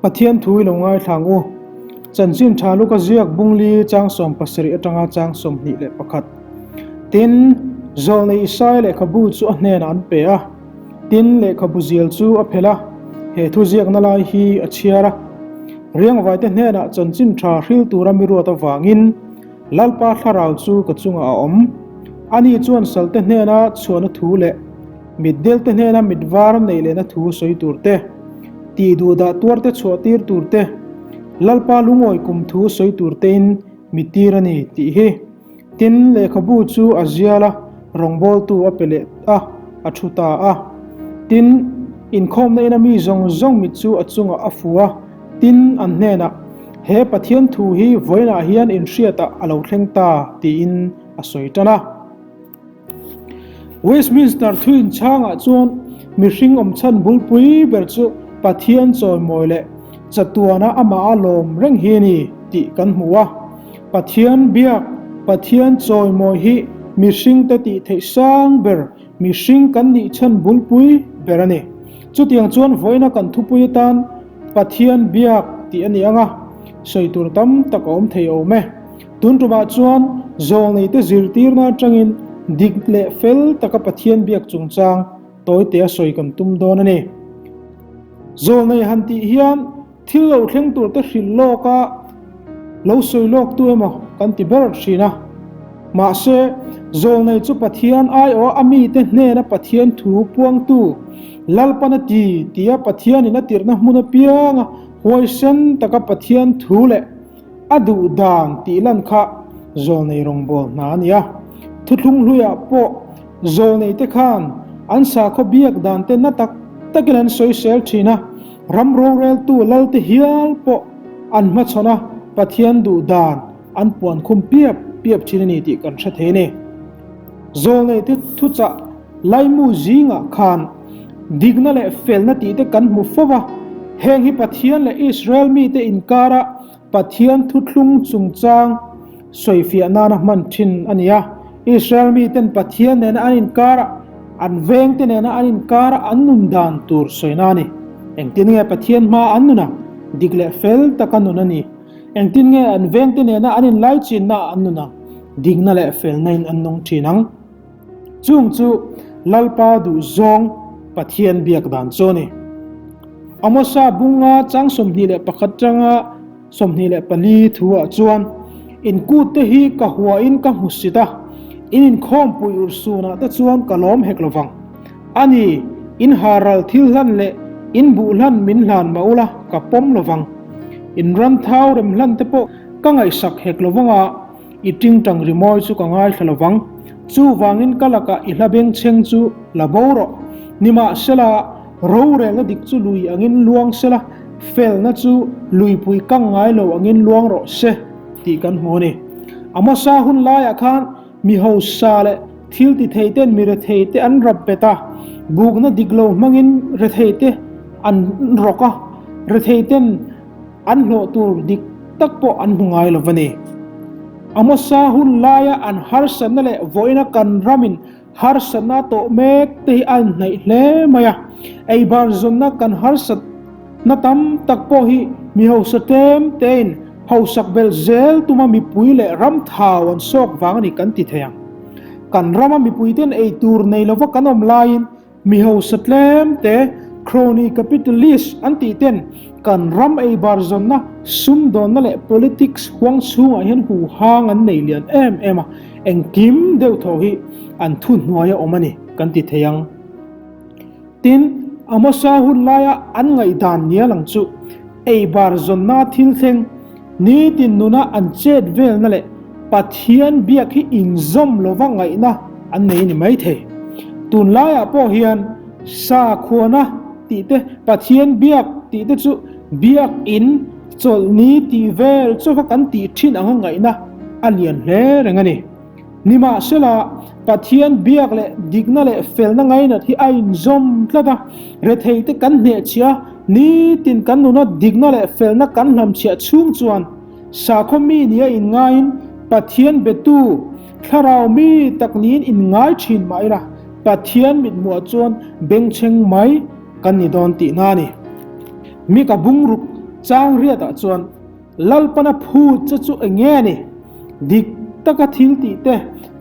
Pathian thu i lo ngaithlang u. Chanchin tha lu ka ziak bung li changsawm pasarih atanga changsawm hnih leh pakhat. Tin, zawh nei Isai lehkhabu chu a hnenah an pe a. Tin, lehkhabu zial chu a phelh a, he thu ziakna lai hi a chhiar a. Riangvaite hnenah chanchin tha hril tura mi ruat avangin, Lalpa thlarau chu ka chungah a awm. Ani chuan salte hnena chhuahna thu leh mitdelte hnena mitvar neih lehna thu sawi tur te, tih duh dah tuar te chhuah tir tur te, Lalpa lungawi kum thu sawi tur tein mi tir a ni tih hi. Tin, lehkhabu chu a zial a, rawngbawltu a pe leh a, a thu ta a. Tin, inkhawmna ina mi zawng zawng mit chu a chungah a fu a. Tin, an hnenah, He Pathian thu hi vawiinah hian inhriatah a lo thleng ta, tiin a sawi tan a. Westminster thuinchhangah chuan mihring awm chhan bulpui ber chu Pathian chawimawi leh chatuana amah a lawm reng hi a ni tih kan hmu a. Pathian biak, Pathian chawimawi hi mihringte tihtheih sang ber Mihring kan nih chhan bulpui ber a ni. Chutiang chuan vawiina kan thupui atan Pathian biak tih a ni anga sawi tur tam tak a awm thei awm e. Tun tumah chuan zawng neite zirtirna atangin dik leh fel taka Pathian biak chungchang tawitea sawi kan tum dawn a ni. Zawng nei han tih hian. Thil lo thleng tur te hrilh lawk a, lo sawi lawk tu emaw kan ti ber thin a. Mahse, zawl nei chu Pathian ai aw a mite hnena Pathian thu puangtu Lalpan a ti tia Pathianin a tirhna hmun apianga huaisen taka Pathian thu leh a duh dan tih lan kha zawl nei rawngbâwl hna a nia. Thuthlung hluiah pawh zawl neite khan an sakhaw biak dante na tak takin an sawi sel thin a. Ram rawlreltu lalte hial pawh an hmachhawn a, Pathian duh dan an puan khum piap piap thin a ni tih kan hre thei a ni. Zawlneite thuchah Laimu zingah khan dikna leh felna tihte kan hmu fo va, heng hi Pathian leh Israel mite inkarah Pathian thuthlung chungchang sawifiah nana hman thin a ni a. Israel miten Pathian nena an inkara, an vengte nena an inkara an nun dan tur sawina a ni. Engtin nge Pathian hmaa an nuna? Dik leh fel taka nun a ni. Engtin nge an vengte nena an inlaichinnaa an nuna? Dikna leh felnain an nung thin ang. Chung chu Lalpa duhzawng Pathian biak dan chu a ni. Amosa bunga chang sawmhnih leh pakhat tanga sawmhnih leh pali thuah chuan, In kûtte hi ka huain ka hmu sit a, in inkhawmpuih ur sunah te chuan ka lawm hek lo vang. A ni, in haral thil hlan leh in buh hlan min hlan mah ula ka pawm lo vang. In ran thau rem hlan te pawh ka ngaihsak hek lo vang a. I tingtang rimawi chu ka ngaithla lo vang. Chuvangin ka lakah i hlabengchheng chu la bo rawh. Nimahsela, rorelna dik chu lui angin luang sela, felna chu luipui kang ngai lo angin luang rawh se tih kan hmu a ni. A hmasa hun laiah khan mi hausa leh thil ti thei ten mi rethei te an rap bet a, bukna dik lo hmangin rethei te an rawk a, rethei ten, An hlawh tur dik tak pawh an hmu ngai lova ni. A hmasa hun laia an harsatna leh vawiina kan ramin harsatna a tawh mek te hi a inhnaih hle mai a. Eibar zawnna kan harsat na tam tak pawh hi mi hausa tlem tein hausak belh zel tuma mipui leh ram thau an sawk vang a ni kan ti thei ang. Kan rama mipuite'n ei tur nei lova kan awm laiin Mi hausa tlem te crony capitalist an tih ten kan ram ei bar zawn na, sum dawn na leh politics huang chhungah hian huhang an nei lian em em a, engkim deuh tho hi an thu hnuai a awm a ni kan ti thei ang. Tin, a hmasa hun laia an ngaihdan nial ang chu ei bar zawn na thil thleng, Nitin nuna an chet velna leh Pathian biak hi inzawm lova ngaihna an nei ni mai thei. Tun laiah pawh hian sakhuana tih te, Pathian biak tih te chu biakin chawlh ni tih vel chauha kan tih thin ang a ngaihna a lian hle reng a ni. Nimahsela, Pathian biak leh dikna leh felna ngainat hi a inzawm tlat a. Retheite kan hnehchhia nitin kan nuna dikna leh felna kan hlamchhiah chhung chuan, sakhaw mi nia inngain Pathian biatu thlarau mi tak niin inngai thin mah ila Pathian mithmuhah chuan bengchheng mai kan ni dawn tihna a ni. Mika bungruk changriatah chuan. Lalpana phu che chu eng nge a ni? Dik taka thil tih te,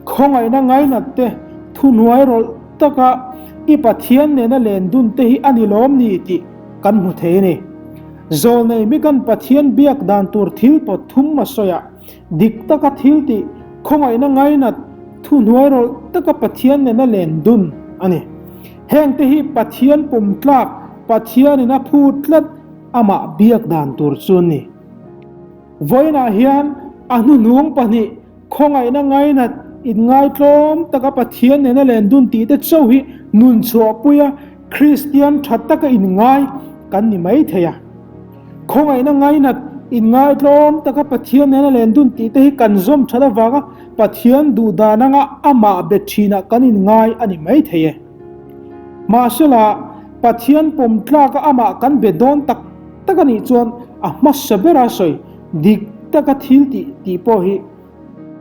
khawngaihna ngainat te, thuhnuai rawlh taka i Pathian nena len dun te hi a ni lawm ni tih kan hmu thei a ni. Zawlnei mikan Pathian biak dan tur thil pawt thum ma sawia dik taka thil tih, khawngaihna ngainat, thuhnuai rawlh taka Pathian nena len dun a ni. Heng te hi Pathian pum tlak, Pathianin a phu tlat, amah biak dan tur chu a ni. Vawiinah hian a hnuhnung pahnih khawngaihna ngainat inngaithlawm taka Pathian nena len dun tih te chauh hi nun chhuahpuia Kristian tha taka inngai kan ni mai thei a. Khawngaihna ngainat inngaithlawm taka Pathian nena len dun tih te hi kan zawm that avanga Pathian duhdana nga amah be thinah kan inngai a ni mai thei e. Mahsela, Pathian pawm tlaka amah kan be dawn tak tak a nih chuan a hmasa bera sawi dik taka thil tih tih pawh hi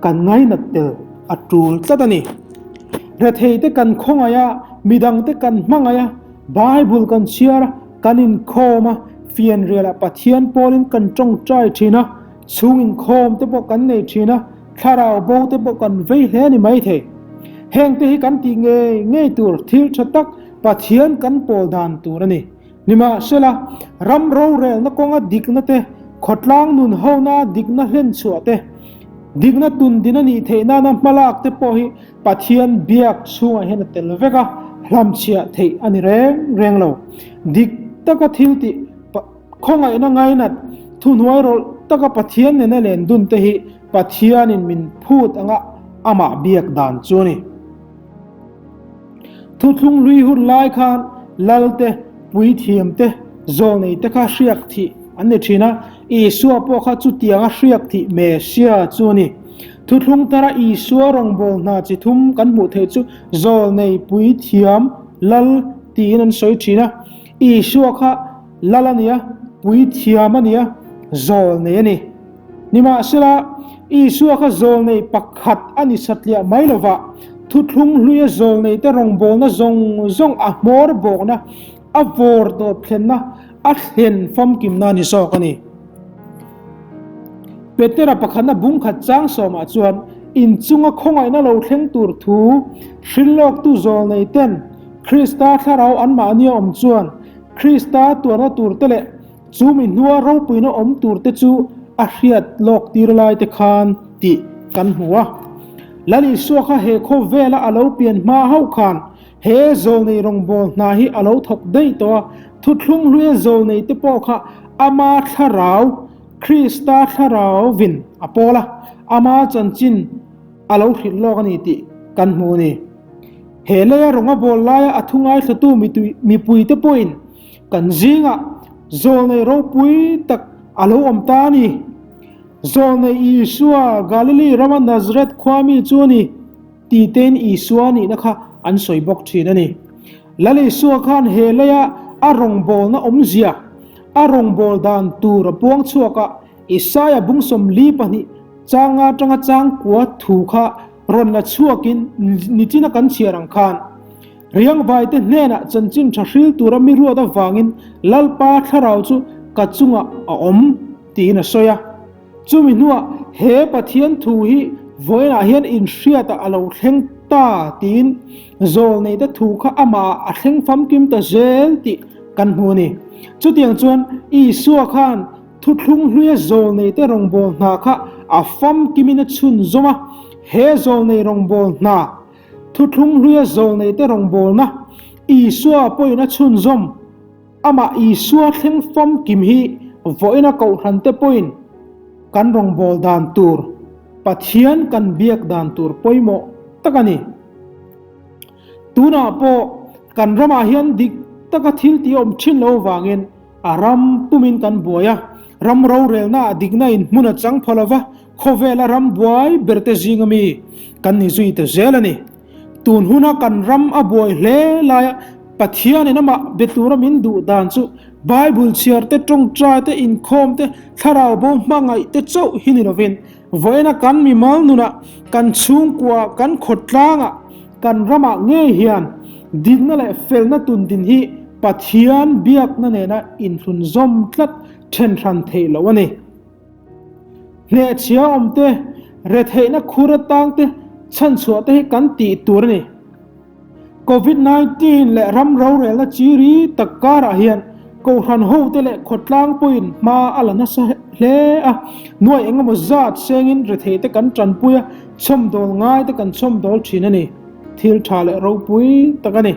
kan ngainat tel a tul tlat a ni. Hretheite kan khawngaih a, midangte kan hmangaih a, Bible kan chhiar a, kan inkhawm a, fianrialah Pathian pawlin kan tawngtai thin a, Chhung inkhawm te pawh kan nei thin a, thlarau bo te pawh kan vei hle a ni mai thei. Heng te hi kan tih ngei ngei tur thil tha tak Pathian kan pawl dan tur a ni. Nimahsela, ram rorelna kawnga dikna te, khawtlang nun hona dikna hlen chhuah te, dikna tun din a nih theih nana hma lak te pawh hi Pathian biak chhungah hian a tel vek a, hlamchhiah theih a ni reng reng lo. Dik taka thil tih Khawngaihna ngainat, Thuhnuai rawlh taka Pathian nena len dunte hi Pathianin min phut angah Amah biak dan chu a ni. Thuthlung hlui hun lai khan lalte, puithiamte, zawlneite kha hriak thih an ni thin a, Isua pawh kha chutianga hriak thih Messia chu a ni. Thuthlung tara Isua rawngbâwl hna chi thum kan hmuh theih chu zawlnei, puithiam, lal tiin an sawi thin a. Isua kha Lal a nia, Puithiam a nia, Zawl nei a ni. Nimahsela, Isua kha zawl nei pakhat a ni satliah mai lova, thuthlung hluia zawl neite rawngbawlna zawng zawng a hmawr bawkna, a vawr tawp thlenna, a thlen famkimna ni zawk a ni. Petera pakhat a bung khat chang sawmah chuan inchunga khawngaihna lo thleng tur thu hrilh lawktu zawl nei ten Krista thlarau an mahnia awm chuan Krista tuarna tur te leh chu mi hnua ropuina awm tur te chu a hriat lawk tir lai te khan tih kan hmu a. Lal Isua kha he khawvela a lo pian hma hauh khan, He Zawlnei rawngbâwl hna hi a lo thawk daih tawh a, thuthlung hluia Zawlnei te pawh kha ama thlarau, Krista thlarau vin a pawl a, ama chanchin a lo hrilh lawk a ni tih kan hmu a ni. He leia rawnga bâwl laia a thungaithlatu mitui, mipui te pawhin kan zingah Zawlnei ropui tak a lo awm ta a ni. Zawlnei Isua, Galili rama Nazareth khuami chu a ni. Titein Isua nihna kha an sawi bawk thin a ni. Lal Isua khan he laia a rawngbawlna awmzia, a rawngbawlh dan tur a puang chhuak a. Isaiah bung sawmli pahnih chang atanga changkua thu kha rawn la chhuakin nitin a kan chhiar ang khan, Riangvaite hnenah chanchin tha hril tura mi ruat avangin Lalpa thlarau chu ka chungah a awm, tiin a sawi a. Chumi hnuah, he Pathian thu hi vawiinah hian inhriata a lo thleng ta tiin zawl nei te thu kha amah a thleng famkim ta zel tih kan hmu a ni. Chutiang chuan, Isua khan thuthlung hluia zawl nei te rawngbâwl hna kha a famkimin a chhunzawm a. He zawl nei rawngbâwl hna, thuthlung hluia zawl nei te rawngbâwlna, Isua pawhin a chhunzawm. Amah Isua thleng famkim hi vawiina kohhrante pawhin kan rawngbâwl dan tûr, Pathian kan biak dan tûr pawimawh tak a ni. Tûnah pawh kan ramah hian dik taka thil tihawm ṭhin lo vangin a ram pumin kan buai a. Ram rorelnaah dikna in hmun a chang pha lova khawvêla ram buai berte zinga mi kan ni zui ta zêl a ni. Tun huna kan ram a buai hle laia Pathianin amah be tura min duh dan chu Bible chhiarte, tawngtaite, inkhawmte, thlarau bo hmangaihte chauh hi ni lovin, vawiina kan mimal nunah, kan chhungkua, kan khawtlangah, kan ramah ngei hian dinna leh felna tun din hi Pathian biakna nena inhlun zawm tlat then hran theih loh a ni. Hleachhia awm te, retheihna khur atang te, chhanchhuah te hi kan tih tur a ni. Covid nineteen leh ram rorelna chi ri tak karah hian kohhran ho te leh khawtlang pawhin hma a la nasa hle a. Nuai engemaw zat sengin retheih te kan tanpui a, chhawmdawl ngai te kan chhawmdawl thin a ni. Thil tha leh ropui tak a ni.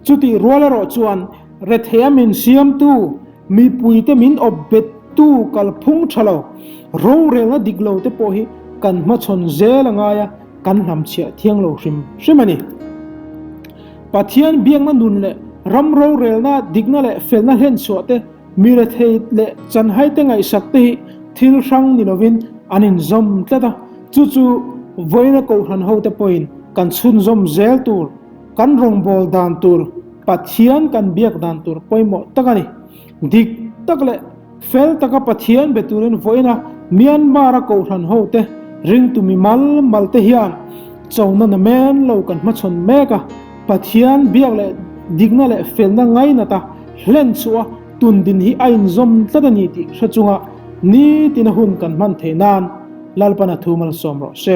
Chutih rual erawh chuan Rethea min siamtu, mipuite min awp bettu kalphung tha lo, rorelna dik lo te pawh hi kan hmachhawn zel a ngai a, kan hnam chhiah thiang lo hrim hrim a ni. Pathian biakna nun leh ram rorelna dikna leh felna hlenchhuah te mi rethei leh chanhaite ngaihsak te hi thil hrang ni lovin an inzawm tlat a, chu chu vawiina kohhran ho te pawhin kan chhunzawm zel tur, Kan rawngbâwl dan tûr Pathian kan biak dan tûr pawimawh tak a ni. Dik tak leh fel taka Pathian be tûrin vawiina Myanmar-a kohhran hote, ringtu mi mal malte hian chawna na mên lo kan hmachhawn mêk a. Pathian biak leh dikna leh felna ngainata hlen chhuha tundin hi a inzawm tlat a ni tih hre chunga nitina hun kan hman thei nân Lalpana thu malsâwm rawh se.